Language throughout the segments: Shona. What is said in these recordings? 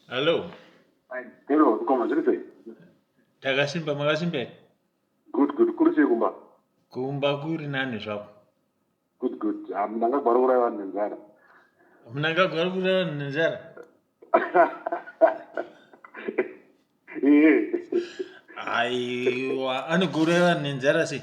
Hello. Hello, mkoma zviri sei? Takasimba, makasimba here? Good good, kuri sei kumba? Kumba kuri nani zvako. Good good, munangagwara uraya vanhu nenzara. Munangagwara uraya vanhu nenzara? Aiwa, anoguraya vanhu nenzara sei?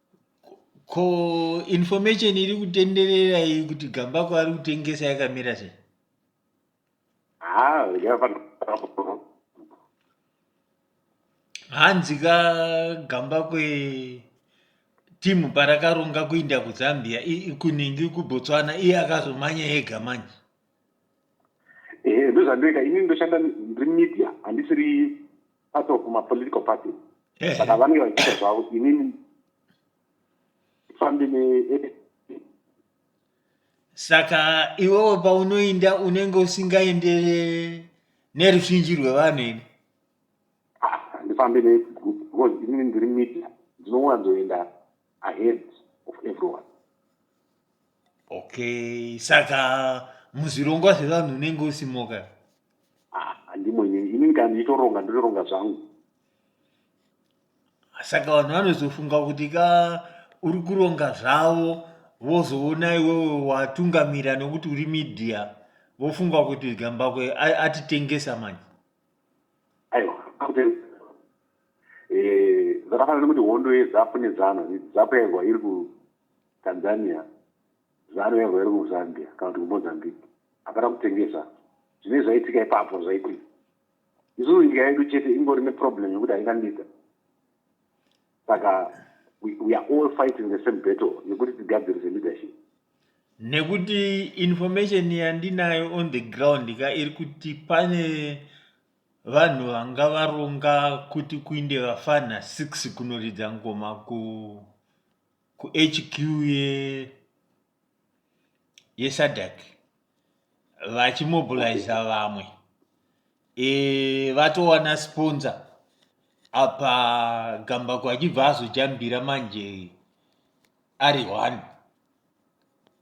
ko information iri kutenderera iyi kuti gambako ari kutengesa yakamira sei ah, hanzi ka gambako timu parakaronga kuinda kuzambia kunhingi kubotswana iye akazomanya ega manje ehe ndozvandoita ini ndoshanda ndiri media handisiri part of mapolitical party saka vanenge vachiita zvavo inini fambe ne saka iwewo paunoinda unenge usingaende neruzhinji rwevanhu ini ah, handifambe negroup because inini ndiri media ndinowanzoenda ahead of everyone okay saka muzvirongwa zvevanhu unenge usimoka ah, handimwenye ini kana ndiitoronga ndinoronga zvangu saka vanhu vanozofunga kuti ka uri kuronga zvavo vozoona iwewe watungamira nokuti uri media vofunga kuti gambakwe atitengesa manje aiwa Eh, zvakafanana nekuti hondo yezapu nezanu zapu yairwa iri kutanzania zanu yairwa iri kuzambia kana kuti kumozambique hapana kutengesa zvine zvaitika ipapo zvaitika isusu nyika yedu chete ingori neproblem yekuti haina leader saka we are all fighting the same battle yekuti tigadzirise leadership nekuti information yandinayo on the ground ka iri kuti pane Vanhu vanga varonga kuti kuinde vafana 6 kunoridza ngoma ku kuHQ ye yeSADC vachimobiliza vamwe e, vatowana sponsor apa Gambako achibva azojambira manje ari one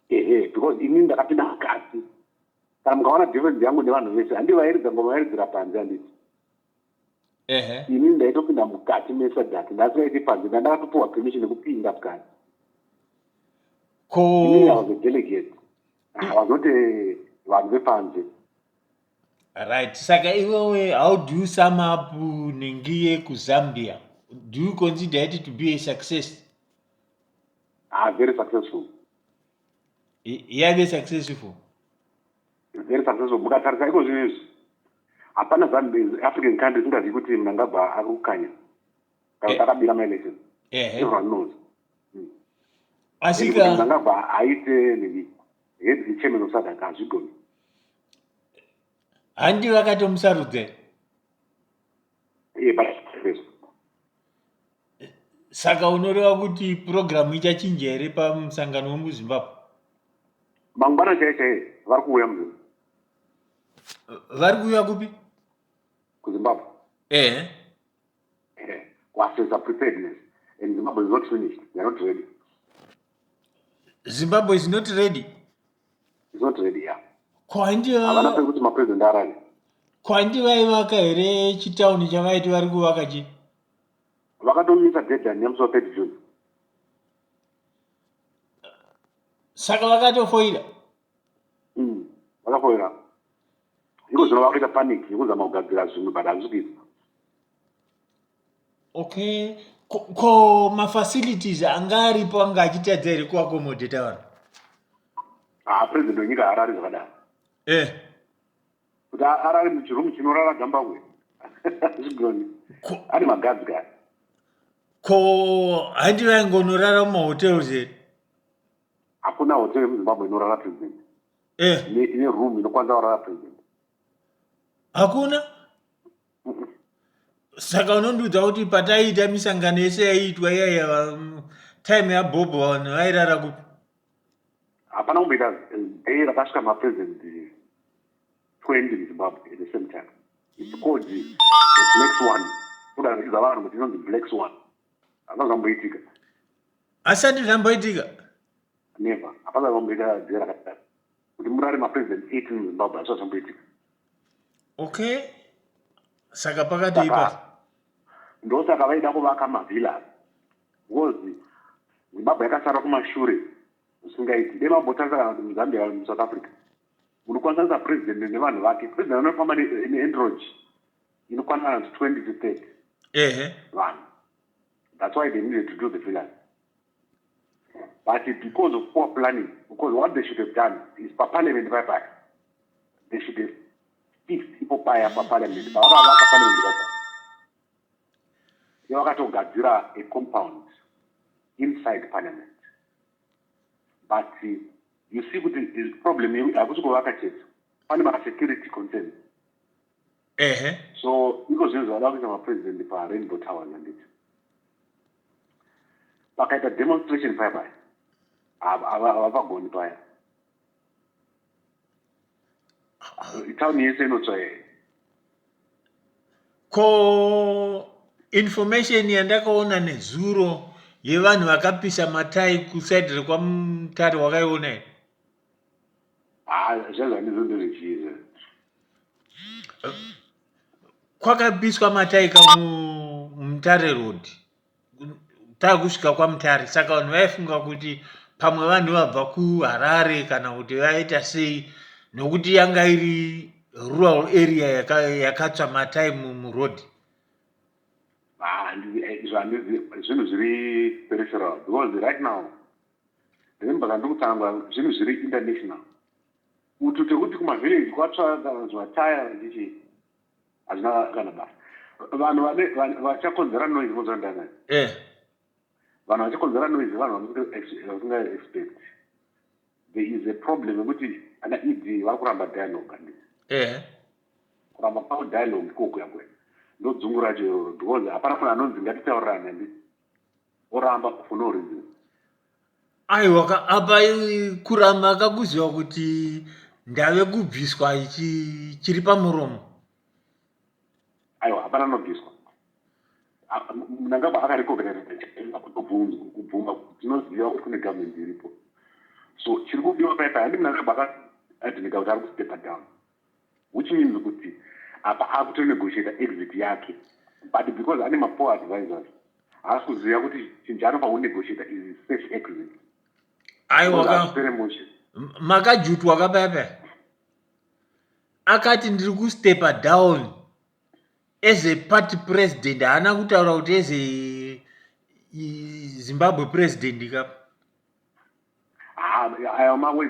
ehe because ini ndakapinda mukati kana mukaona difference yangu nevanhu vese handivairidza ngoma vairidzira panze handiti ehe ini ndaitopinda mukati mesadhati ndasingaiti panze ndandakatopiwa permission yekupinda mukati ko ini was a delegate i was not a vanhu vepanze right saka iwewe how do you sum up nengiye kuzambia do you consider it to be a success ah very successful yaive successful very successful mukatarisa iko zvinhu izvi hapana african country singazivi kuti mnangagwa ari kukanya kana kuti eh. akabira maelection everyone knows hmm. asika mnangagwa aite nini head chairman of sadaka hazvigoni handi vakatomusarudze saka unoreva kuti purogiramu ichachinja here pamusangano wemuzimbabwe mangwana chaiye chaiye vari kuuya mu vari kuuya kupi kuzimbabwe ehe eh. kuassesa preparedness and zimbabwe is not finished they're not ready zimbabwe is not ready It's not ready, yeah. Ko handi va- Havana pekuti mapresident arare. ko handi vaivaka here chitauni chavaiti vari kuvaka chi Vakatomisa deadline yemusi wa 30 June. saka vakatofoira Mm. Vakafoira. Iko zvino vakuita panic yekuzama kugadzira zvimwe but hazvisi kuita. okay ko, ko mafacilities anga aripo anga achitadza here kuakomodheta vanhu ah, president wenyika haarari zvakadaro eh. kuti arari muchirumu chinorara gambahwe zvigoni ane magadzi kaya ko handi vaingonorara mumahotels here hakuna hotel yemuzimbabwe inorara president eh. ine room inokwanisa kurara president hakuna saka unondiudza kuti pataiita misangano yese yaiitwa iyaiya time yabhobho vanhu vairara kupi hapana kumboita day rakasvika mapresident 20 muzimbabwe at the same time its called the black swan kuda zvichiza vanhu kuti inonzi black swan hapana zvamboitika asati zvamboitika never hapana zvamboita day rakadaro kuti murare mapresident 18 muzimbabwe asati zvamboitika okay saka pakadii pa ndosaka vaida kuvaka mavillas because zimbabwe yakasara kumashure zvisingaiti dai vambotanga kana kuti muzambia kana musouth africa munokwanisa president nevanhu vake president anofamba neandroid inokwana kana kuti twenty to thirty ehe vanhu that's why they needed to do the villas but because of poor planning because what they should have done is paparliament pai pai they should have fixed ipo paya paparliament pavakavaka parliament pai pai yavakatogadzira a compound inside parliament but uh, you see kuti problem hakusi kuvaka chete pane masecurity concerns ehe so iko zvinhu zvavada kuita mapresident parainbow towers handiti pakaita demonstration paya paya havapagoni paya town yese inotsva yeye ko information yandakaona nezuro yevanhu vakapisa matai kusaidi rekwamutare wakaiona here Ah, zvanzi handizo ndozvitiza. kwakabiswa mataika mu- mumutare road takusvika kwamutare saka vanhu vaifunga kuti pamwe vanhu vabva kuharare kana kuti vaita sei nokuti yanga iri rural area yaka- yakatsva matai mu- muroad Ah, handizi- eh, izvo handizi- zvinhu zviri peripheral because right now Remember kana ndokutaura zvinhu zviri international. Utu tekuti kuma village kwatsva kanzwa tire ndichi hazvina kana basa. Vanhu vane vachakonzera noise vozva ndana. Eh. Vanhu vachakonzera noise vanhu vasinga expect. There is a problem yekuti ana ED vari kuramba dialogue and eh. Kuramba pavo dialogue koko yakwe. Ndodzungu racho iroro because hapana munhu anonzi ngatitaurirane ndi. oramba for no reason aiwa ka apa i- kuramba akakuziva kuti ndave kubviswa ichi chiri pamuromo aiwa hapana anobviswa A- m- mnangagwa akarecognizaa kutobvunza kubvuma tinoziva kuti kune government iripo so chiri kudiwa paipa handi mnangagwa akadhinika kuti ari kustepper down Which means kuti apa akuto negotiator exit yake but because ane mapoor advisors haasi kuziva kuti chinhu chaanopa kunegotiator is safe exit aiwapere mushe makajutwa kapepe akati ndiri kustepa down as a party president haana kutaura kuti as a zimbabwe president kapa aya mawe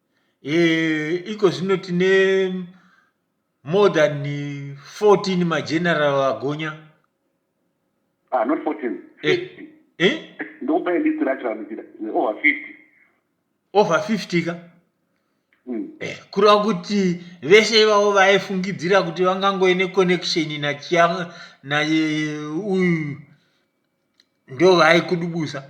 Eh, iko zvino tine more than 14 mageneral agonya ah, not 14 eh, eh? ndokupai list racho ramuchida over 50 over 50 ka mm. eh, kureva kuti vese ivavo vaifungidzira kuti vangangoe neconnection nachia naye uyu ndo vaikudubusa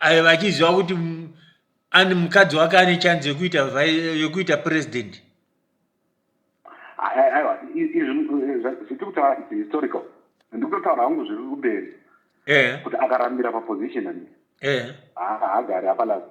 aiva achiziva kuti ani mukadzi wake ane chanzi yekuita yekuita president aiwa zvitiri kutaura its historical ndikutotaura hangu zviri kumberi eh. kuti akarambira paposition ani eh. haagari apalazi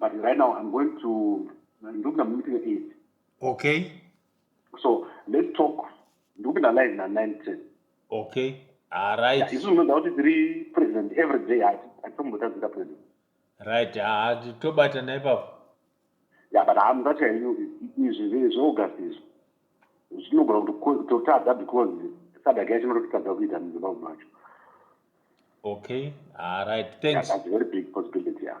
but right now i'm going to ndikupinda mumeeting eight okay so let's talk ndikupinda live na nine ten okay aright ah, isu unoda kuti tiri president every day hatitombotazinga president right ah, tobata naipapo ya but hamuzachaenyu izvi zveaugust izvi zvinogona kuti totadza because sadaka yacho inototadza kuita muzimbabwe macho okay alright thanks yeah, that's very big possibility yeah.